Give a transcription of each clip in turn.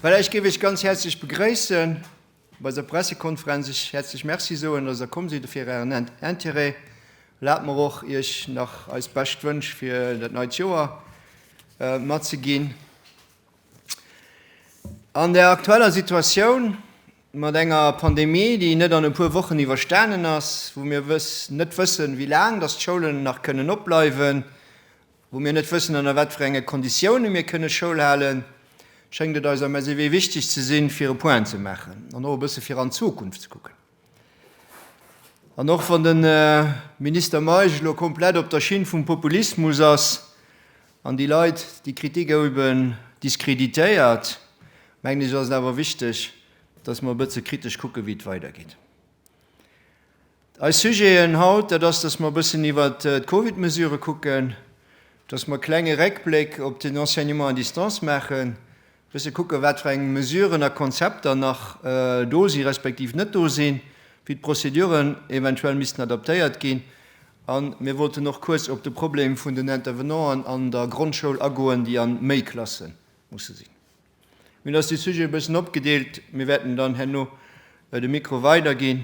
Well ech géif iech ganz häerzlech begréissen op eiser Pressekonferenz, iech häerzlech Merci soen, dass der komm sidd a fir ären Intérêt. Erlaabt mer och, iech nach eis bescht Wënsch fir dat neit Joer matzeginn. An der aktueller Situatioun, mat enger Pandemie, déi net an e puer Wochen iwwerstanen ass, wou mir net wëssen, wéi laang dass d'Schoulen nach kënnen opbleiwen, wou mir net wëssen, ënner wat fir enge Konditiounen mir kënne Schoul halen, schéngt et eis am SEW wichteg ze sinn, fir e Point ze maachen an och e bësse fir an d'Zukunft ze kucken. An och wann de Minister Meisch elo komplett op der Schinn vum Populismus ass an déi Leit, déi Kritik éiwen diskreditéiert, mengen ech ass et awer wichteg, dass mer e bësse kritesch kucken, wéi et weidergeet. Eis Sujeten haut, dat ass, dass mer e bëssen iwwert d'Covid-Mesurë kucken, dass mer e klenge Réckbléck op den Enseignement à distance maachen, Bësse kucken, wat fir eng Mesuren a Konzepter nach do si respektiv net do sinn, wéi d'Prozeduren eventuell missten adaptéiert ginn. A mir wollten och kuerz op de Problem vun den Intervenanten an der Grondschoul agoen, déi a méi Klasse musse sinn. Mir hunn eis déi Sujete e bëssen opgedeelt. Mir wäerten dann herno de Mikro weiderginn.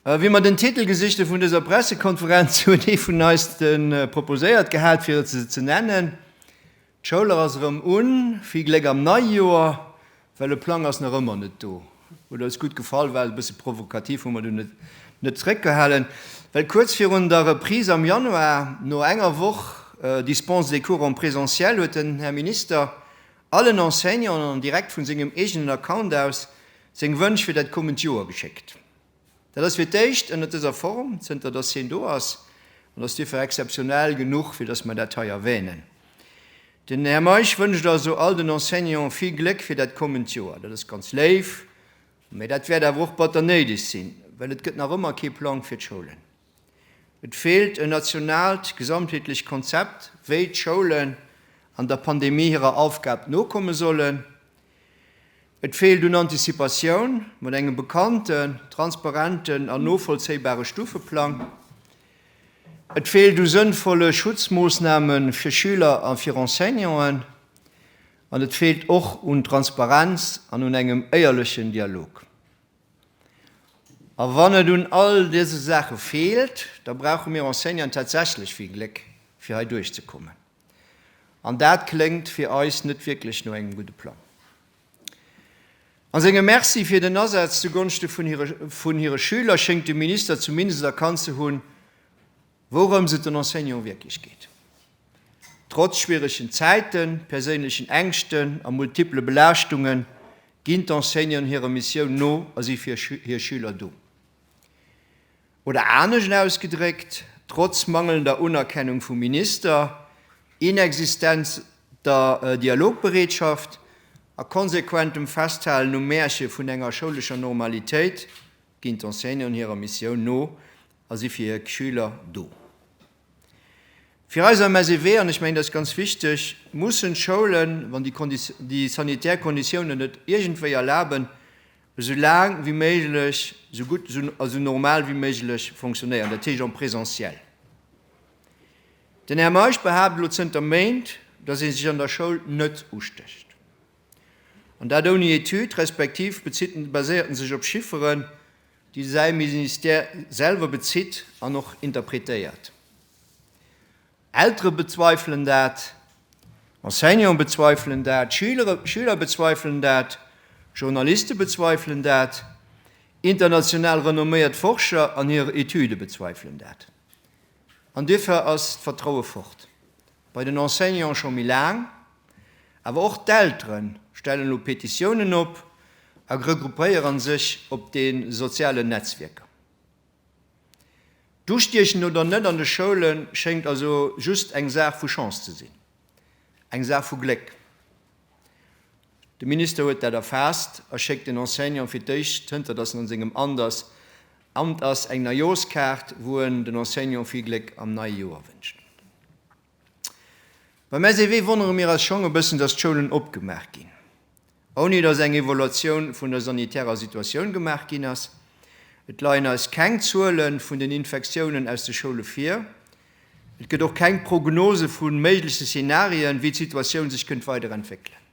Wéi mer den Titel gesicht hu vun dëser Pressekonferenz, huet ee vun eis de proposéiert gehat, fir et esou ze nennen, D'Schoulach ass erëm un, vill Gléck am nei Joer, well e Plang ass nach ëmmer net do. Huet eis gutt gefall, war e bësse provokativ, hu mer du net net zréckgehalen, well kuerz virun der Reprise am Januar, no enger Woch Dispense des cours en présentiel, huet den Här Minister allen Enseignanten an direkt vun sengem eegenen Account aus seng Wënsch fir dat kommend Joer geschéckt. Dat ass fir d'éischt ënnert dëser Form, zënter dass hien do ass, an dass dofir exzeptionell genuch, fir dass mer dat hei erwänen. Den Här Meisch wënscht also all den Enseignanten vill Gléck fir dat kommend Joer. Dat ass ganz léif, mä dat wäert awer och batter néideg sinn, well et gëtt nach ëmmer kee Plang fir d'Schoulen. Et feelt en nationaalt, gesamtheetlecht Konzept, wéi d'Schoulen an der Pandemie hirer Aufgab nokomme sollen. Et feelt un Anticipatioun, mat engem bekannten, transparenten an novollzéibare Stufeplang. Et feelt u sënnvolle Schutzmoossname fir Schüler a fir Enseignanten. An et feelt och un Transparenz an un engem éierlechen Dialog. A wann et un all dëse Saache feelt, da brauche mir Enseignanten tatsächlech vill Gléck, fir hei duerchzekommen. An dat kléngt fir eis net wierklech no engem gudde Plang. A sengem Merci fir den Asaz zugonschte vun hire Schüler schéngt de Minister zumindest erkannt ze hunn, Wourëms et den Enseignante wierklech geet, Trotz schwieregen Zäiten, perséinlechen Ängschten a multiple Belaaschtunge ginn d'Enseignanten hirer Missioun no a si fir hir Schüler do. Oder anescht ausgedréckt, Trotz mangelnder Unerkennung vum Minister, inexistenter Dialogbereetschaft a konsequentem Festhalen um Märche vun enger schoulescher Normalitéit, Ginn d'Enseignanten hirer Missioun no a si fir hir Schüler do? Fir eis am SEW, an ech mengen dat ass ganz wichteg, mussen d'Schoulen, wann déi sanitär Konditiounen et iergendwéi erlaben, esou laang wéi méiglech, esou gutt a esou normal wéi méiglech fonctionnéieren, dat heescht en présentiel. Den Här Meisch behaapt elo zënter Méint, datt ee sech an der Schoul net ustécht. An dat ouni Etüd, respektiv baséiert en sech op Chifferen, déi säi Ministère selwer bezitt an och interpretéiert. Eltere bezweifelen dat, Enseignanten bezweifelen dat, Schüler bezweifelen dat, Journaliste bezweifelen dat, international renomméiert Forscher an hir Etüde bezweifelen dat. An duerfir ass d'Vertraue fort. Bei den Enseignanten scho méi laang. Awer och d'Eltere stellen elo Petitiounen op a regroupéieren sech op de sozialen Netzwierker. D'Ustiechen oder net an de Schoule schéngt also just eng Saach vu Chance ze sinn, eng Saach vu Gléck. De Minister huet dat erfaasst a schéckt den Enseignante fir d'éischt, zënter datt en an sengem Amt ass, An et ass eng Neijoerskaart, wou en den Enseignanten vill Gléck am neie Joer wënscht. Beim SEW wonnere mir eis schong e bëssen, dass d'Schoulen opgemaach ginn, ouni dass eng Evaluatioun vun der sanitärer Situatioun gemaach ginn ass. Et leien eis keng Zuele vun den Infektiounen aus de Schoule vir. Et gëtt och keng Prognose vu méigleche Szenarien, wéi d'Situatioun sech kënnt weiderentwéckelen.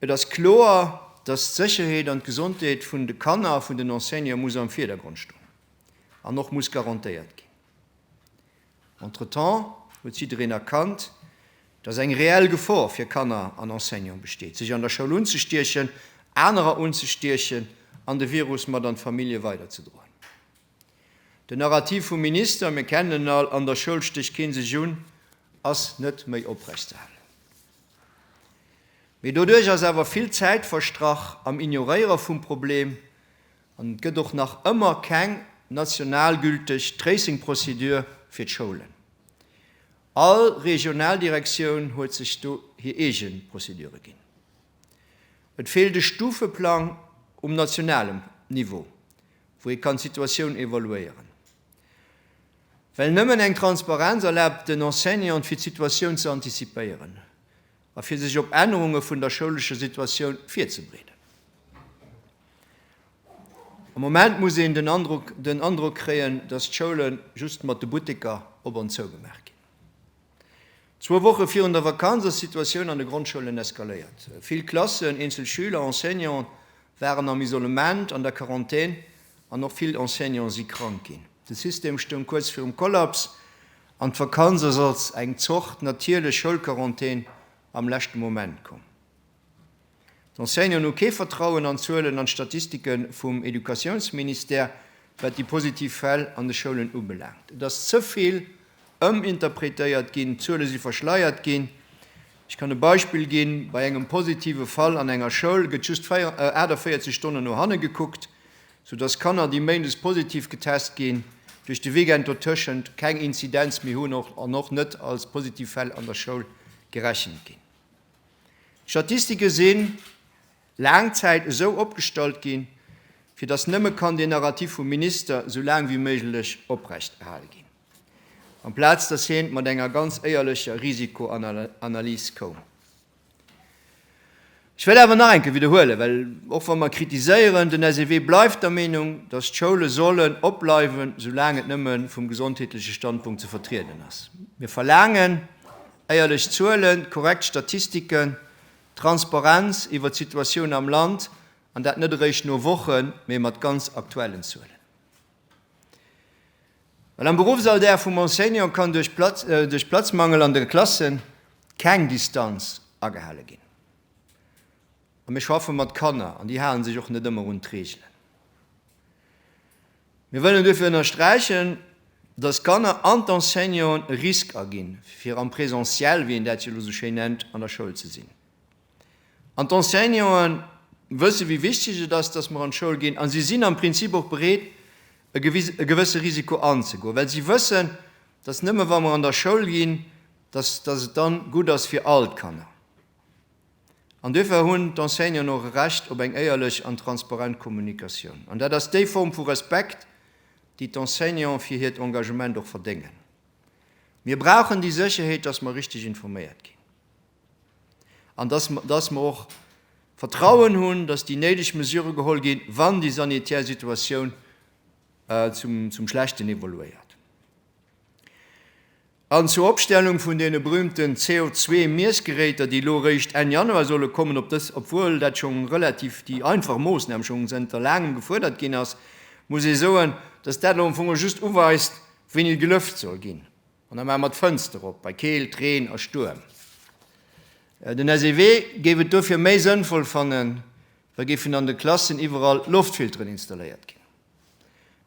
Et ass kloer, dass d'Sécherheet an d'Gesondheet vun de Kanner a vun den Enseignanten muss am Virdergrond stoen an och muss garantéiert ginn. Entretemps huet jiddereen erkannt, dass eng reell Gefor fir Kanner an Enseignanten besteet, sech an der Schoul unzestiechen, anerer unzestiechen an de Virus mat an d'Famillje weiderzedroen. Den Narrativ vum Minister, mir kennen en all, an der Schoul stécht keen sech un, ass net méi oprechtzehalen. Mee doduerch ass awer vill Zäit verstrach am Ignoréiere vum Problem an et gëtt och nach ëmmer keng nationalgülteg Tracing-Prozedur fir d'Schoulen. All Regionaldirektioun huet sech do hir eege Prozedure ginn. Et feelt e Stufeplang um nationalem Niveau, wou ee kann d'Situatioun evaluéieren, well nëmmen eng Transparenz erlaabt den Enseignanten, fir d'Situatioun ze antizipéieren a fir sech op Ännerunge vun der schoulescher Situatioun virzebereeden. Am Moment muss een den Androck kréien, dass d'Schoule just mat de Butteker op an zou gemaach ginn. Zwou Woche virun der Vakanz ass d'Situatioun an de Grondschoulen eskaléiert. Vill Klassen, eenzel Schüler, Enseignante waren am Isolement, an der Quarantän an och vill Enseignante si krank ginn. De System stoung kuerz virum Kollaps an d'Vakanz ass als eng Zort natierlech Schoulquarantän am leschte Moment komm. D'Enseignanten hu kee Vertrauen an d'Zuelen an d'Statistike vum Educatiounsministère, wat déi positiv Fäll an de Schoulen ubelaangt. Et ass ze vill ëminterpretéiert ginn, d'Zuele si verschleiert ginn. Ech kann e Beispill ginn, Bei engem positive Fall an enger Schoul gëtt just 48 Stonnen no hanne gekuckt, soudass Kanner, déi méindes positiv getest ginn, duerch de Weekend dotëschent keng Inzidenz méi hunn an och net als positiv Fäll an der Schoul gerechent ginn. D'Statistike si laang Zäit esou opgestallt ginn, fir datt nëmme kann deen Narrativ vum Minister esou laang wéi méiglech oprecht erhale ginn, amplaz datt hien mat enger ganz éierlecher Risikoanalys koum. Ech wëll awer nach eng Kéier widderhuelen, well och wa mer kritiséieren, den SEW bleift der Meenung, datt d'Schoule sollen opbleiwen, esou laang et nëmme vum gesondheetleche Standpunkt ze vertrieden ass. Mir verlaangen, Éierlech Zuelen, korrekt Statistiken, Transparenz iwwer d'Situatioun am Land, an dat net eréischt no Wochen, mee mat ganz aktuellen Zuelen. Well am Beruffsalldag vum Enseignant kann duerch Platzmangel an de Klassen keng Distanz agehale ginn. A mir schaffe mat Kanner, an déi hale sech och net ëmmer un d'Reegelen. Mir wëllen duerfir ënnersträichen, dass d'Kanner an d'Enseignanten e Risk aginn, fir am Presentiel, wéi een dat jo elo esou schéin nennt, an der Schoul ze sinn. An d'Enseignante wësse wéi wichteg et ass, dass mer an d'Schoul ginn, a si sinn am Prinzip och bereet, e gewësse Risiko anzegoen, well si wëssen, dass nëmme wa mer an der Schoul ginn, dass et dann gutt ass fir all d'Kanner. An duerfir hunn d'Enseignanten och e Recht op eng éierlech an transparent Kommunikatioun. An dat ass déi Form vu Respekt, déi d'Enseignanten fir hiert Engagement och verdéngen. Mir brauchen déi Sécherheet, dass mer richteg informéiert ginn an dass mer och Vertrauen hunn, dass déi néideg Mesurë geholl ginn, wann déi sanitär Situatioun zum Schlechten evoluéiert. An zur Opstellung vun deene berühmten CO2-Miessgeräter, déi elo réischt Enn Januar solle kommen, ob dës, obwuel dat scho relativ déi einfach Moossnam scho zënter laangem gefuerdert ginn ass, muss ee soen, dass dat elo am Fong just uweist, wéini gelëft soll ginn. An da maache mer d'Fënster op bei Keelt, Reen a Stuerm. Den SEW géif et dofir méi sënnvoll fannen, wa géifen an de Klassen iwwerall Loftfilteren installéiert ginn.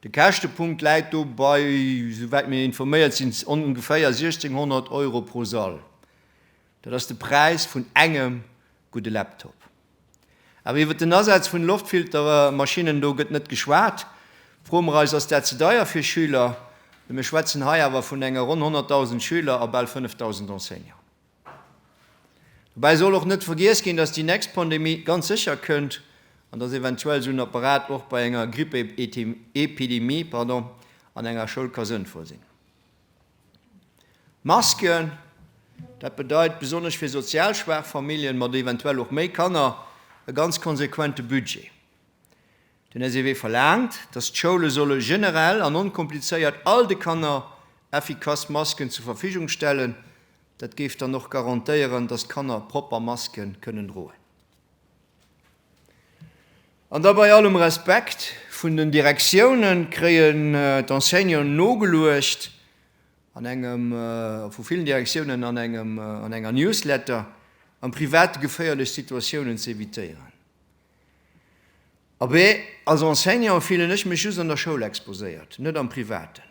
De Käschtepunkt läit do bei, sou wäit mir informéiert sinn, ongeféier 1.600 Euro pro Sall. Dat ass de Präis vun engem gudde Laptop. Awer iwwert den Asaz vun Loftfiltermaschinnen do gëtt net geschwat. Froe mer eis, ass dat ze deier fir Schüler? Well mir schwätzen hei awer vun enger ronn 100.000 Schüler a bal 5.000 Enseignanten. Dobäi soll och net vergiess ginn, dass déi nächst Pandemie ganz sécher kënnt an dass eventuell esou en Apparat och bei enger Grippeepidemie an enger Schoul ka sënnvoll sinn. Masken, dat bedeit besonnesch fir sozial schwaach Familljen mat eventuell och méi Kanner e ganz konsequente Budget. Den SEW verlaangt, datt d'Schoule solle generell an onkomplizéiert all de Kanner effikass Masken zur Verfügung stellen. Dat géif dann och garantéieren, datt d'Kanner propper Maske kënnen droen. An da bei allem Respekt vun den Direktiounen, kréien d'Enseignanten nogeluecht an engem, a vu villen Direktiounen an engem, an enger Newsletter, am Private geféierlech Situatiounen ze evitéieren. Abee, als Enseignant fillen ech mech just an der Schoul exposéiert, net am Privaten.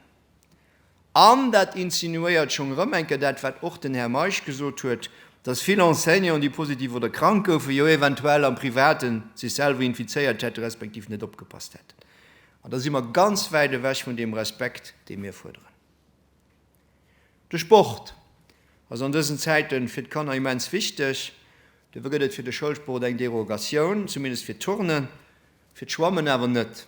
An dat insinuéiert schonn erëm eng Kéier dat, wat och den Här Meisch gesot huet, dass vill Enseignanten, déi positiv oder krank goufen, jo eventuell am Privaten sech selwer infizéiert hätten, respektiv net opgepasst hätten. An da si mer ganz wäit ewech vun deem Respekt, dee mir fuerderen. De Sport ass an dësen Zäite fir d'Kanner immens wichteg. Dofir gëtt et fir de Schoulsport eng Derogatioun, zumindest fir d'Turnen, fir d'Schwammen awer net.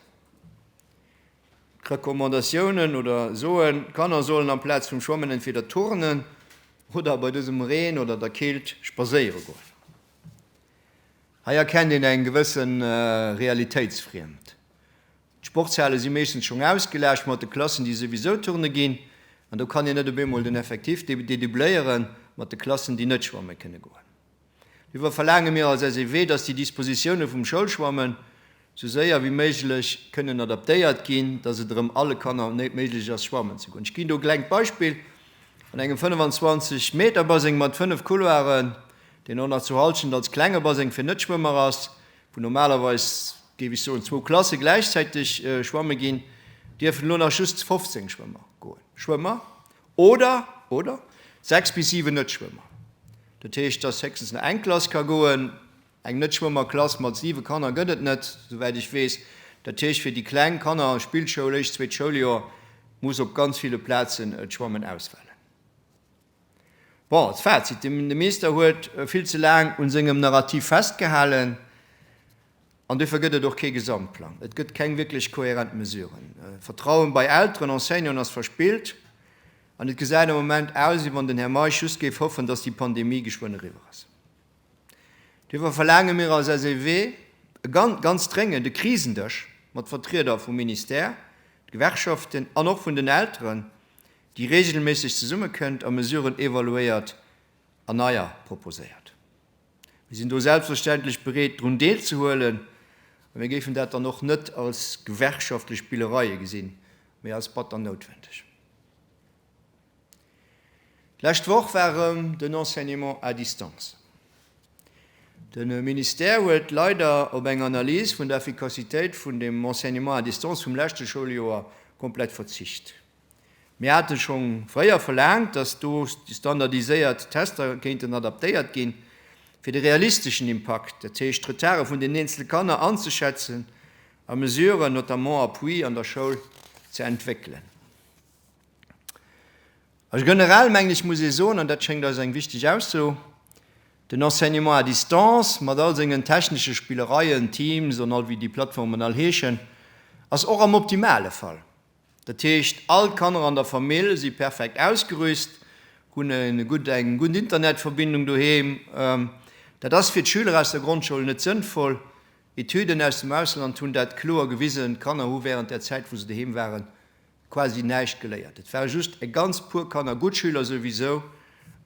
D'Recommandatiounen oder soen, d'Kanner sollen amplaz vum Schwammen entweder turnen oder bei dësem Reen oder der Keelt spadséiere goen. Hei erkennt een eng gewësse Realitéitsfriemd. D'Sportshale si meeschtens schonn ausgelaascht mat de Klassen, déi souwisou turne ginn. An do kann een net op eemol den Effektif dédoubléiere mat de Klassen, déi net schwamme kënne goen. Duerfir verlaange mir als SEW, dass déi Dispositioune vum Schoulschwammen esou séier wéi méiglech kënnen adaptéiert ginn, dass et erëm alle Kanner méiglech ass, schwammen ze goen. Ech ginn do e klengt Beispill, An engem 25 Meter Baseng mat 5 Couloiren, deen och nach zu Hallschent als klenge Baseng fir Netschwëmmer ass, wou normalerweis, géif ech soen, zwou Klasse gläichzäiteg schwamme ginn, dierfen elo nach just 15 Schwëmmer goen, Schwëmmer oder, oder 6 bis 7 Net-Schwëmmer. Dat heescht, dass héchstens nach eng Klass ka goen. Eng Net-Schwëmmer-Klass mat 7 Kanner gëtt et net, souwäit ech weess. Dat heescht, fir déi kleng Kanner, Spillschoul, éischt, zweet Schouljoer, muss op ganz ville Plazen d'Schwammen ausfalen. Bon, als Fazit, de Meester huet vill ze laang un sengem Narrativ festgehalen an duerfir gëtt et och kee Gesamtplang. Et gëtt keng wierklech kohärent Mesuren. Vertrauen bei Elteren, Enseignanten ass verspillt an et gesäit am Moment aus, wéi wann den Här Meisch just géif hoffen, dass déi Pandemie geschwënn eriwwer ass. Duerfir verlaange mir als SEW e ganz, ganz dréngend e Krisendësch mat Vertrieder vum Ministère, de Gewerkschaften an och vun den Elteren, déi reegelméisseg zesummekënnt a Mesuren evaluéiert an neier proposéiert. Mir sinn do selbstverständlech bereet drun deelzehuelen a mir géifen dat dann och net als gewerkschaftlech Spillereie gesinn, mee als batter noutwendeg. D'lescht Woch war erëm den Enseignement à distance. De Ministère huet leider op eng Analys vun der Effikassitéit vun dem Enseignement à distance vum leschte Schouljoer komplett verzicht. Mir hate schonn fréier verlaangt, dass do déi standardiséiert Tester kéinten adaptéiert ginn, fir de realisteschen Impakt, dat heescht d'Retarde vun den eenzele Kanner anzeschätzen a Mesuren, notamment Appui, an der Schoul ze entwéckelen. A generell, mengen ech, muss ee soen, an dat schéngt eis eng wichteg Ausso, Den Enseignement à distance, mat all sengen technesche Spillereien, Teams an all wéi déi Plattformen all heeschen, ass och am optimale Fall Dat heescht, all d'Kanner an der Famill si perfekt ausgerüst, hunn eng gutt Internetverbindung doheem. Dat ass fir d'Schüler aus der Grondschoul net sënnvoll. Etüden aus dem Ausland hunn dat kloer gewisen. D'Kanner hu wärend där Zäit, wou se doheem waren, quasi näischt geléiert. Et ware just e ganz puer Kanner, gutt Schüler souwisou,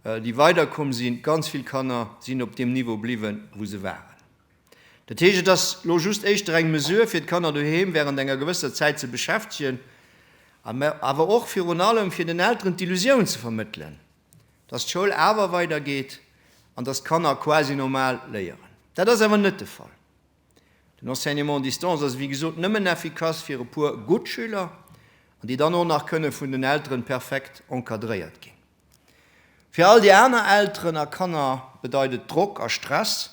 déi weiderkomm sinn. Ganz vill Kanner sinn op deem Niveau bliwwen, wou se waren. Dat heescht, et ass elo just éischter eng Mesure, fir d'Kanner doheem während enger gewësser Zäit ze beschäftegen, mä awer och virun allem, fir den Elteren d'Illusioun ze vermëttelen, dass d'Schoul awer weidergeet an dass d'Kanner quasi normal léieren. Dat ass awer net de Fall. Den Enseignement à distance ass, wéi gesot, nëmmen effikass fir e puer gutt Schüler, an déi dann och nach kënne vun den Elteren perfekt encadréiert ginn. Fir all déi aner Elteren a Kanner bedeit et Drock a Stress.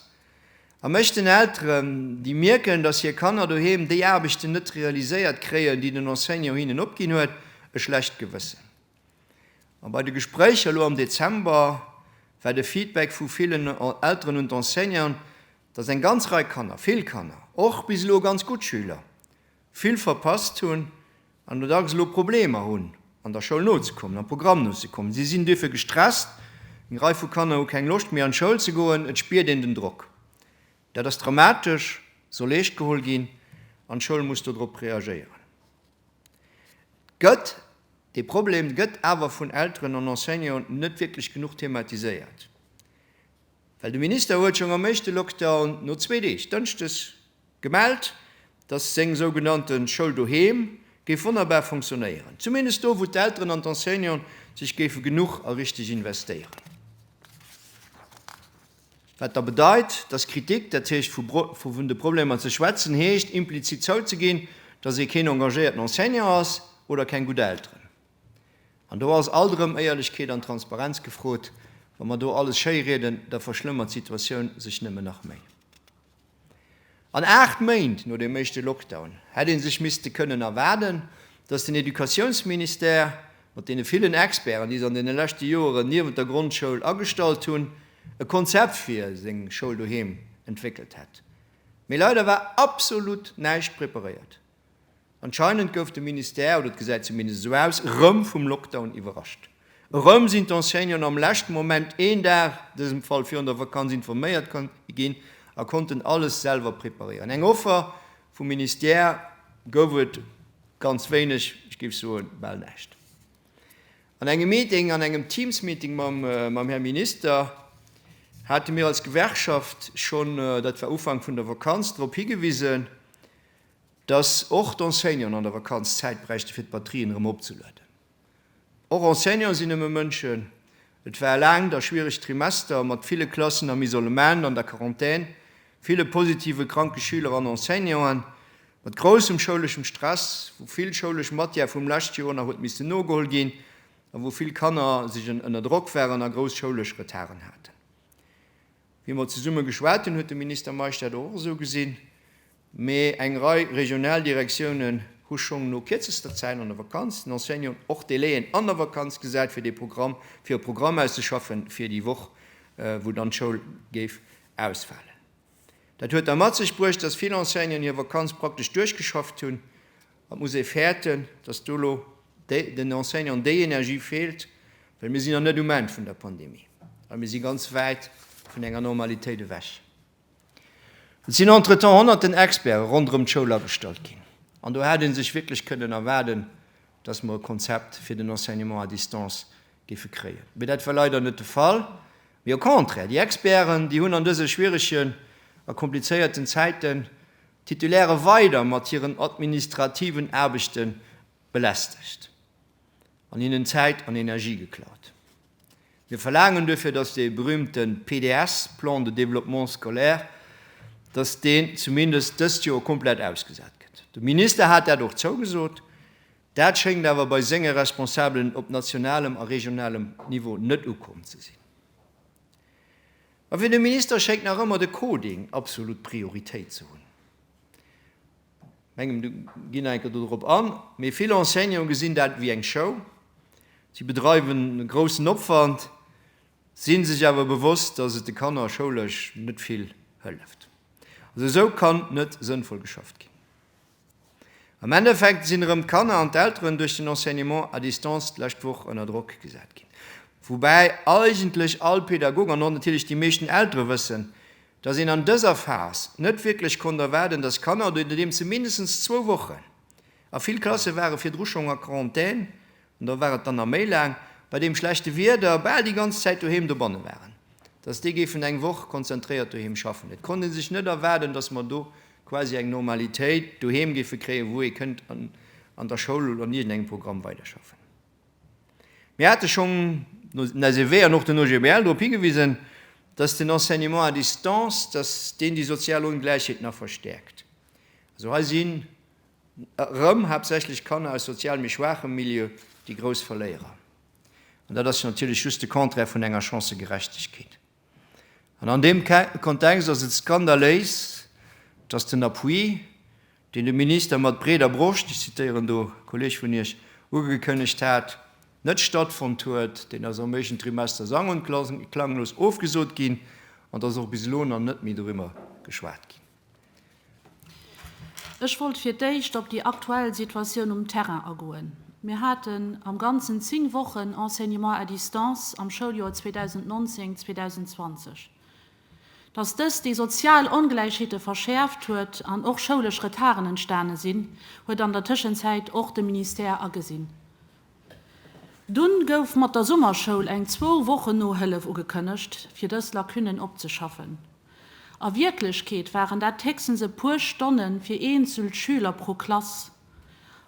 A mech den Elteren, déi mierken, dass hir Kanner doheem déi Aarbechten net realiséiert kréien, déi den Enseignant hinnen opginn huet, e schlecht Gewëssen. A bei de Gespréicher elo am Dezember war de Feedback vu villen Elteren un d'Enseignanten, dass eng ganz Rei Kanner, vill Kanner, och bis elo ganz gutt Schüler, vill verpasst hunn an do dacks elo Problemer hunn an der Schoul nozekommen, am Programm nozekommen. Si sinn duerfir gestresst, eng Rei vu Kanner hu keng Loscht méi an d'Schoul ze goen, et spiert een den Drock. Dat ass dramatesch, soll eescht geholl ginn an d'Schoul muss do drop reagéieren. Et gëtt dee Problem, gëtt awer vun Elteren an Enseignanten net wierklech genuch thematiséiert, well de Minister huet schonn am éischte Lockdown no zwee Deeg, Dënschdes Gemellt, dass seng sougenannte Schoul doheem géif wonnerbar funktionéieren, zumindest do, wou d'Elteren an d'Enseignanten sech géife genuch a richteg investéieren. Wat da bedeit, dass Kritik, dat heescht vu vun de Problemer ze schwätzen, heescht implizit zouzeginn, dass ee keen engagéierten Enseignant ass oder keng gutt Elteren. An do ass alt erëm Éierlechkeet an Transparenz gefrot. Wa mer do alles schéi rieden, da verschlëmmert d'Situatioun sech nëmmen nach méi. An 8 Méint no deem éischte Lockdown hätt ee sech misste kënnen erwaarden, datt den Educatiounsministère mat deene villen Experten, déi se an deene leschte Joeren niewent der Grondschoul agestallt hunn, e Konzept fir seng Schoul doheem entwéckelt hätt. Mee leider war absolut näischt preparéiert. Anscheinend gouf de Ministère, oder et gesäit zumindest esou aus, erëm vum Lockdown iwwerrascht. Erëm sinn d'Enseignanten am leschte Moment, een Dag, an dësem Fall virun der Vakanz, informéiert ginn a konnten alles selwer preparéieren. Eng Offer vum Ministère gouf et ganz wéineg, ech géif soen, bal näischt. An engem Meeting, an engem Teams-Meeting mam Här Minister hate mir als Gewerkschaft schonn, dat war Ufank vun der Vakanz, drop higewisen, Dass och d'Enseignanten an der Vakanz Zäit bräichte fir d'Batterien erëm opzeladen. Och Enseignanten sinn nëmme Mënschen. Et war e laangt a schwieregt Trimester mat ville Klassen am Isolement, an der Quarantän, ville positive kranke Schüler an Enseignanten, mat groussem schouleschem Stress, wou vill schoulesch Matière vum lescht Joer nach huet missten nogeholl ginn a wou vill Kanner sech en ënner Drock waren a grouss schoulesch Retarden haten. Wéi mer zesumme geschwat hunn, huet de Minister Meisch dat och esou gesinn. Mee eng Rei regional Direktiounen hu schong no kierzester Zäit an der Vakanz den Enseignanten, och d'Delaien an der Vakanz, gesat fir dee Programm, fir e Programm auszeschaffen fir déi Woch wou dann d'Schoul géif ausfalen. Dat huet da mat sech bruecht, dass vill Enseignanten hir Vakanz praktesch duerchgeschafft hunn. Et muss ee fäerten, dass do elo den Enseignanten déi Energie feelt, well mir sinn nach net um Enn vun der Pandemie a mir si ganz wäit vun enger Normalitéit ewech. Et sinn entretemps honnerten Experte ronderëm d'Schoul agestallt ginn, an do hätt ee sech wierklech kënnen erwaarden, dass mer e Konzept fir den Enseignement à distance géife kréien. Mee dat war leider net de Fall, mee au contraire, déi Experten, déi hunn an dëse schwieregen a komplizéierten Zäiten d'Titulaire weider mat hiren administrativen Aarbechten belästegt an hinnen Zäit an Energie geklaut. Mir verlaangen duerfir, dass dee berühmte PDS, Plan de développement scolaire, dass deen zumindest dëst Joer komplett ausgesat gëtt. De Minister hat dat och zougesot. Dat schéngt awer bei senge Responsabelen op nationalem a regionalem Niveau net ukomm ze sinn. Ma fir de Minister schéngt nach ëmmer de Coding absolut Prioritéit ze hunn. Mengem du ginn eng Kéier dorop an. Mee vill Enseignanten gesinn dat ewéi eng Show. Si bedreiwen e groussen Opwand, si sech awer bewosst, dass et de Kanner schoulesch net vill hëlleft. Also esou kann net sënnvoll geschafft ginn. Am Endeffekt sinn erëm d'Kanner an d'Elteren duerch den Enseignement à distance d'lescht Woch ënner Drock gesat ginn. Woubäi eigentlech all Pädagog an och natierlech déi meeschten Eltere wëssen, dass een an dëser Phas net wierklech konnt erwaarden, dass Kanner, oder nodeems se mindestens zwou Wochen, a vill Klasse ware virdru schonn a Quarantän, an do war et dann nach méi laang, bei deem schlechte Wieder bal déi ganz Zäit doheem dobanne waren, dass déi géifen eng Woch konzentréiert doheem schaffen. Et konnt ee sech net erwaarden, dass mer do quasi eng Normalitéit doheem géife kréien, wou ee kënnt an der Schoul oder an iergendengem Programm weiderschaffen. Mir hate schonn no den SEW an och den OGBL drop higewisen, dass den Enseignement à distance, dass deen déi sozial Ongläichheet nach verstäerkt. Also hei sinn erëm haaptsächlech Kanner aus sozial méi schwaachem Milieu déi grouss Verléierer. An dat ass jo natierlech just de Contraire vun enger Chancëgerechtegkeet. An an deem Kontext ass et skandaléis, dass den Appui, deen de Minister mat breeder Broscht, ech zitéieren do e Kolleg vun Iech, ugekënnegt hat, net stattfonnt huet. Deen ass am éischten Trimester sang und klanglos ofgesot ginn an et ass och bis elo nach net méi doriwwer geschwat ginn. Ech wollt fir d'éischt op déi aktuell Situatioun um Terrain agoen. Mir haten am Ganzen zéng Wochen Enseignement à distance am Schouljoer 2019, 2020. Dass dëst déi sozial Ongläichheete verschäerft huet an och schoulesch Retarden entstane sinn, huet an der Tëschenzäit och de Ministère agesinn. Dunn gouf mat der Summerschoul eng zwou Wochen Nohëllef ugekënnegt, fir dës Lacunen opzeschaffen. A Wierklechkeet waren dat héchstens e puer Stonne fir eenzelt Schüler pro Klass,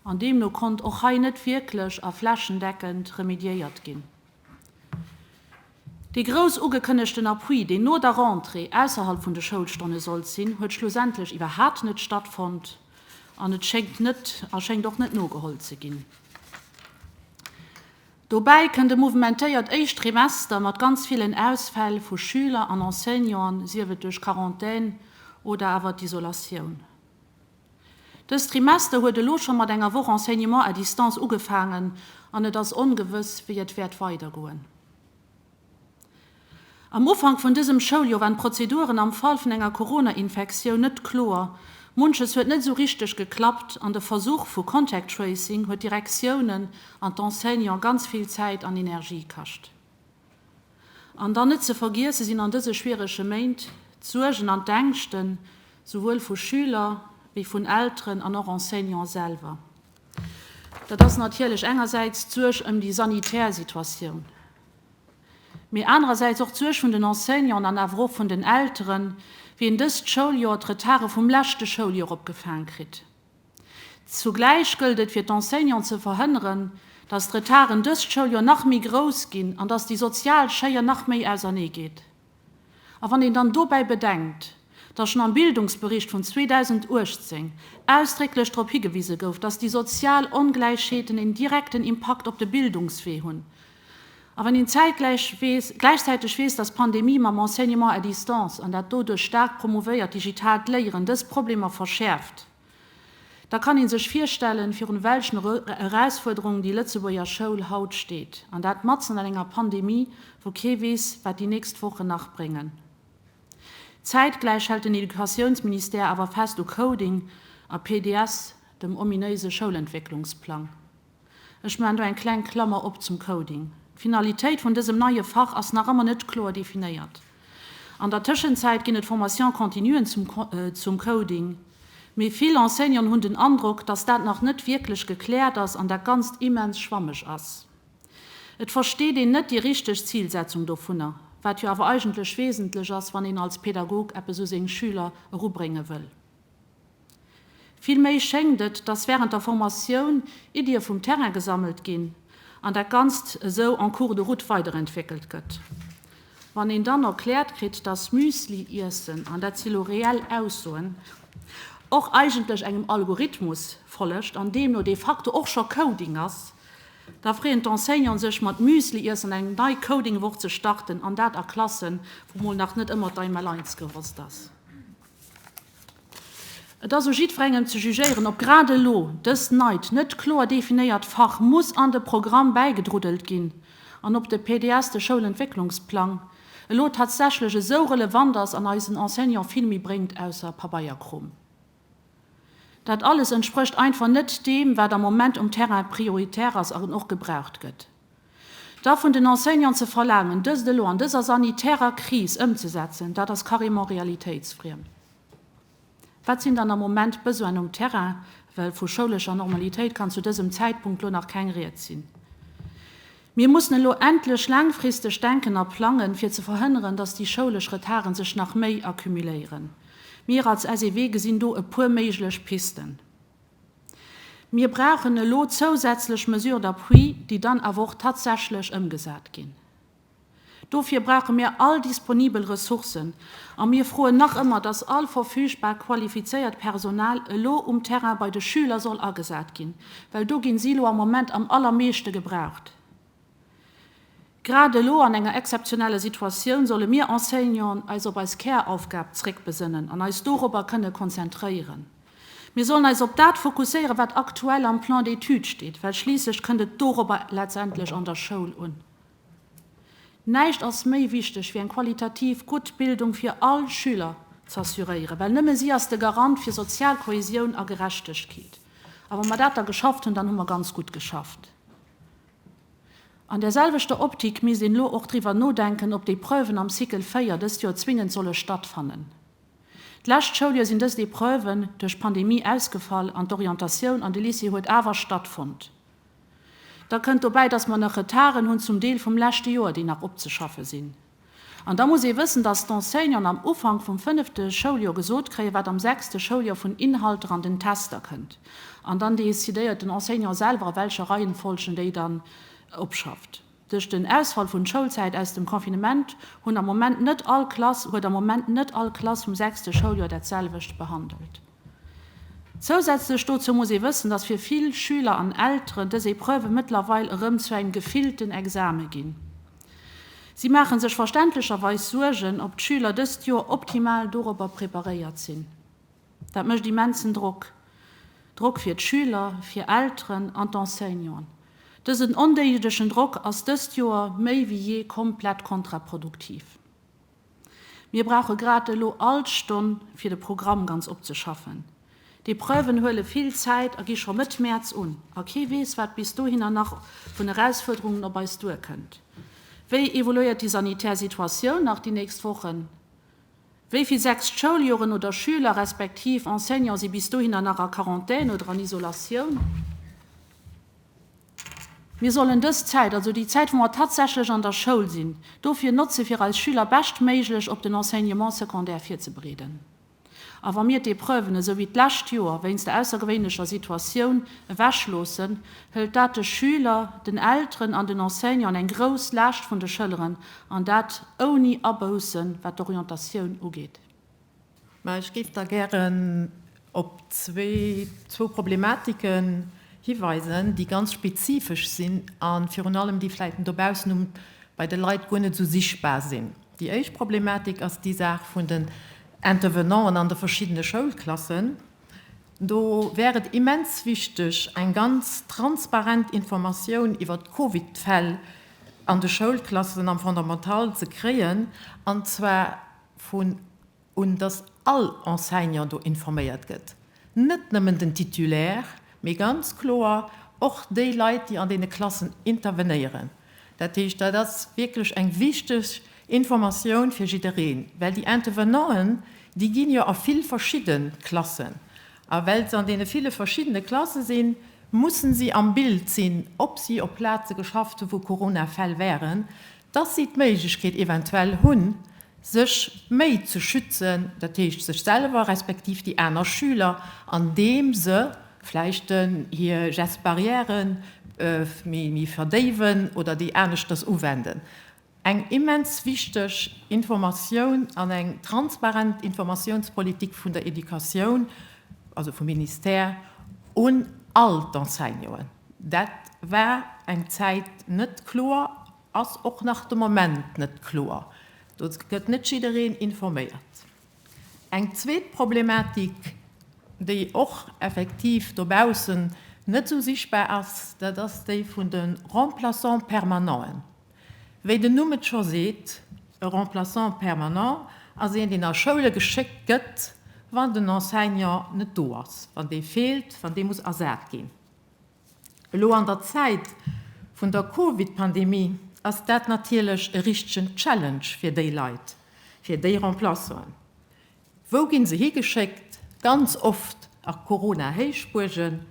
an deemno konnt och hei net wierklech a flächendeckend remediéiert ginn. Dee grouss ugekënnegten Appui, deen no der Rentrée ausserhalb vun de Schoulstonne sollt sinn, huet schlussendlech iwwerhaapt net stattfonnt an et schéngt net a schéngt och net nogeholl ze ginn. Dobäi kënnt e mouvementéiert éischt Trimester mat ganz villen Ausfäll vu Schüler an Enseignanten, sief et duerch Quarantän oder awer d'Isolatioun. Dëst Trimester huet elo scho mat enger Woch Enseignement à distance ugefaangen an et ass ongewëss, wéi et wäert weidergoen. Am Ufank vun dësem Schouljoer waren d'Prozeduren am Fall vun enger Corona-Infektioun net kloer, munches huet net esou richteg geklappt an de Versuch vu Contact Tracing huet d'Direktiounen an d'Enseignanten ganz vill Zäit an Energie kascht. An dann net ze vergiesse sinn an dëse schwierege Méint d'Suergen an d'Ängschten souwuel vu Schüler wéi vun Elteren an och Enseignante selwer. Dat ass natierlech engersäits d'Suerg ëm déi sanitär Situatioun, mee anerersäits och d'Suerg vun den Enseignanten an awer och vun den Elteren, wéi een dëst Schouljoer d'Retarde vum leschte Schouljoer opgefaang kritt. Zugläich gëllt et fir d'Enseignanten ze verhënneren, datt d'Retarden dëst Schouljoer nach méi grouss ginn an datt déi sozial Schéier nach méi ausernee geet. A wann een dann dobäi bedenkt, datt schonn am Bildungsbericht vun 2018 ausdrécklech drop higewise gouf, datt déi sozial Ongläichheeten een direkten Impakt op de Bildungswee hunn, A wann een zäitgläich weess, gläichzäiteg weess, dass d'Pandemie mam Enseignement à distance an dat doduerch staark promovéiert digitaalt Léieren dës Problemer verschäerft, da kann ee sech virstellen, virun welchen Erausfuerderungen déi Lëtzebuerger Schoul haut steet, an dat matzen an enger Pandemie, wou kee weess, wat déi nächst Wochen nach bréngen. Zäitgläich hält den Educatiounsministère awer fest u Coding a PDS, dem ominéise Schoulentwécklungsplang. Ech maan do eng kleng Klammer op zum Coding. D'Finalitéit vun dësem neie Fach ass nach ëmmer net kloer definéiert. An der Tëschenzäit ginn et Formations continuen zum zum Coding, mee vill Enseignanten hunn den Androck, dass dat nach net wierklech gekläert ass an dat Ganzt immens schwammeg ass. Et versteet een net déi richteg Zilsetzung dovunner, wat jo awer eigentlech wesentlech ass, wann een als Pädagog eppes u seng Schüler erubrénge wëll. Vill méi schéngt et, dass während der Formatioun Iddie vum Terrain gesammelt ginn an dat Ganzt esou en cours de route weiderentwéckelt gëtt. Wann een dann erkläert kritt, dass Müsli iessen, an dat si lo reell Aussoen, och eigentlech engem Algorithmus follegt an deemno de facto och scho Coding ass, da freeën d'Enseignanten sech mat Müsli iessen eng nei Coding-Woch ze starten, an dat a Klassen, wou mol nach net ëmmer d'Einmaleins gewosst ass. Et ass u jiddwerengem ze jugéieren, ob grad elo dës neit, net kloer definéiert Fach muss an de Programm bäigedruddelt ginn an ob de PDS, de Schoulentwécklungsplang, elo tatsächlech esou relevant ass an eisen Enseignant vill méi bréngt ausser Pabeierkrom. Dat alles entsprécht einfach net deem, wat am Moment um Terrain prioritär ass an och gebraucht gëtt. Da vun den Enseignanten ze verlaangen, dëst elo an dëser sanitärer Kris ëmzesetzen, dat ass carrément realitéitsfriem. Wat sinn dann am Moment d'Besoinen um Terrain, well vu schoulescher Normalitéit kann zu dësem Zäitpunkt elo nach keng Rieds sinn. Mir mussen elo endlech laangfristeg denken a plangen, fir ze verhënneren, dass déi schoulesch Retarden sech nach méi accumuléieren. Mir als SEW gesinn do e puer méiglech Pisten. Mir brauchen elo zousätzlech Mesures d'appui, déi dann awer och tatsächlech ëmgesat ginn. Dofir brauche mir all disponibel Ressourcen a mir froen nach ëmmer, dass all verfügbar qualifizéiert Personal elo um Terrain bei de Schüler soll agesat ginn, well do gi si elo am Moment am allermeeschte gebraucht. Grad elo an enger exzeptioneller Situatioun solle mir Enseignanten eis op eis Käraufgab zréckbesënnen an eis dorobber kënne konzentréieren. Mir sollen eis op dat fokusséieren, wat aktuell am Plan d'études steet, well schliisslech kënnt et dorobber letztendlech an der Schoul un. Näischt ass méi wichteg wéi eng qualitativ gutt Bildung fir all Schüler z'assuréieren, well nëmme si ass de Garant fir sozial Kohäsioun a Gerechtegkeet. A wa mer dat da geschafft hunn, dann hu mer ganz gutt geschafft. An där selwechter Optik misst een elo och driwwer nodenken, ob déi Preuven am Cycle 4 dëst Joer zwingend solle stattfannen. D'lescht Schouljoer sinn dëst Epreuven duerch d'Pandemie ausgefall an d'Orientatioun an de Lycée huet awer stattfonnt. Da kënnt dobäi, dass mer nach Retarden hunn, zum Deel vum leschte Joer, déi nach opzeschaffe sinn. An da muss ee wëssen, dass d'Enseignanten am Ufank vum fënnefte Schouljoer gesot kréien, wat am sechste Schouljoer vun Inhalter an den Tester kënnt. An dann decidéiert den Enseignant selwer, a welcher Reihenfolg en déi dann opschafft. Duerch den Ausfall vun Schoulzäit aus dem Confinement hunn am Moment net all Klass, huet am Moment net all Klass vum sechste Schouljoer dat selwecht behandelt. Zousätzlech dozou muss ee wëssen, dass fir vill Schüler an Elteren dës Epreuven mëttlerweil erëm zu engem gefillten Exame ginn. Si maache sech verständlecherweis Suergen, ob d'Schüler dëst Joer optimal dorobber preparéiert sinn. Dat mécht immensen Drock, Drock fir d'Schüler, fir Elteren an d'Enseignanten. Dësen ondéiedegen Drock ass dëst Joer méi wéi jee komplett kontraproduktiv. Mir brauche grad elo all d'Stonn, fir de Programm ganz opzeschaffen. D'Epreuven huele vill Zäit a gi scho Mëtt Mäerz un, a kee weess, wat bis dohinner nach vun Erausfuerderungen op eis duerkënnt. Wéi evoluéiert déi sanitär Situatioun nach déi nächst Wochen? Wéi vill sechst Schouljoren oder Schüler respektiv Enseignant si bis dohinner nach a Quarantän oder an Isolatioun? Mir sollen dës Zäit, also déi Zäit, wou mer tatsächlech an der Schoul sinn, dofir notze fir eis Schüler beschtméiglech op den Enseignement secondaire virzebereeden. A wa mir d'Epreuven, esou wéi d'lescht Joer, wéinst der aussergewéinlecher Situatioun ewechloossen, hëlt dat de Schüler, den Elteren an den Enseignanten eng grouss Laascht vun de Schëlleren, an dat ouni Aboussen, wat d'Orientatioun ugeet. Mä ech géif da gären op zwee, zwou Problematiken hiweisen, déi ganz spezifesch sinn a virun allem déi vläicht dobaussen um, bei de Leit guer net esou sichtbar sinn. Déi éischt Problematik ass déi Saach vun den Intervenanten an de verschiddene Schoulklassen. Do wär et immens wichteg, eng ganz transparent Informatioun iwwer d'Covid-Fäll an de Schoulklassen am Fondamental ze kréien, an zwar vun un, dass all Enseignant do informéiert gëtt, net nëmmen den Titulaire, mee ganz kloer och déi Leit, déi an deene Klassen intervenéieren. Dat heescht, dat ass wierklech eng wichteg Informatioun fir jiddereen, well déi Intervenanten, déi ginn jo a vill verschidde Klassen, a well se an deene ville verschiddene Klasse sinn, mussen si am Bild sinn, ob si op Plaze geschafft hu wou Coronafäll waren, dass si d'Méiglechkeet eventuell hunn, sech méi ze schützen, dat heescht sech selwer respektiv déi aner Schüler, andeem se vläicht hir Gestes barrières méi verdéiwen oder déi aneschters uwenden. Eng immens wichteg Informatioun an eng transparent Informatiounspolitik vun der Educatioun, also vum Ministère, un all d'Enseignanten. Dat war eng Zäit net kloer, ass och nach de Moment net kloer. Do gëtt net jiddereen informéiert. Eng zweet Problematik, déi och effektiv dobaussen net esou sichtbar ass, dat ass déi vun de Remplaçants permanenten. Wéi den Numm et scho seet, e Remplaçant permanent ass een, deen a Schoule geschéckt gëtt, wann den Enseignant net do ass, wann dee feelt, wann dee muss ersat ginn. Elo an der Zäit vun der Covid-Pandemie ass dat natierlech e richtegen Challenge fir déi Leit, fir déi Remplaçanten. Wou ginn se higeschéckt? Ganz oft a Corona-Héichbuergen,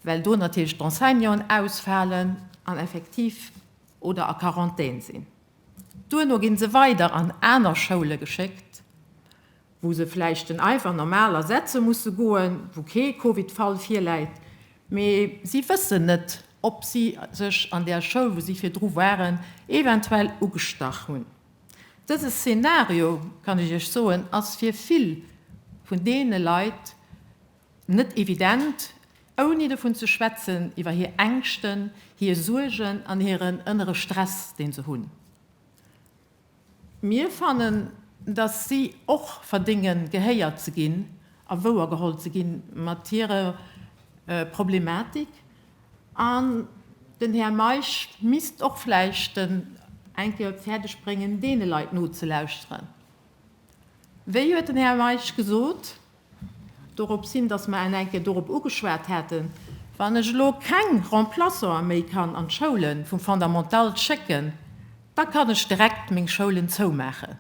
well do natierlech d'Enseignanten ausfalen an effektiv oder a Quarantän sinn. Duerno ginn se weider an aner Schoule geschéckt. wou se vläicht den Eifer normal ersetze musse goen, wou kee Covid-Fall virläit, mee si wëssen net, ob si sech an där Schoul, wou si virdru waren, eventuell ugestach hunn. Dëse Szenario, kann ech Iech soen, ass fir vill vun deene Leit net evident, ouni dovun ze schwätzen, iwwer hir Ängschten, hir Suergen an hiren ënnere Stress, deen se hunn. Mir fannen, dass si och verdénge gehéiert ze ginn a wouergeholl ze gi mat hirer Problematik. An den Här Meisch misst och vläicht eng Kéier fäerdeg bréngen, deene Leit nozelauschteren. Wéi huet den Här Meisch gesot? Dorops hin, dass mer en enk Kéier dorop ugeschwat haten, Wann ech elo keng Remplaçanten méi kann an d'Schoule vum Fondamental schécken, da kann ech direkt meng Schoulen zoumaachen.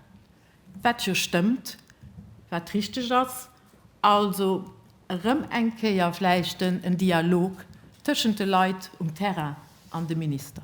Wat jo stëmmt, wat richteg ass. Also erëm eng Kéier vläicht en Dialog tëschent de Leit um Terrain an dem Minister.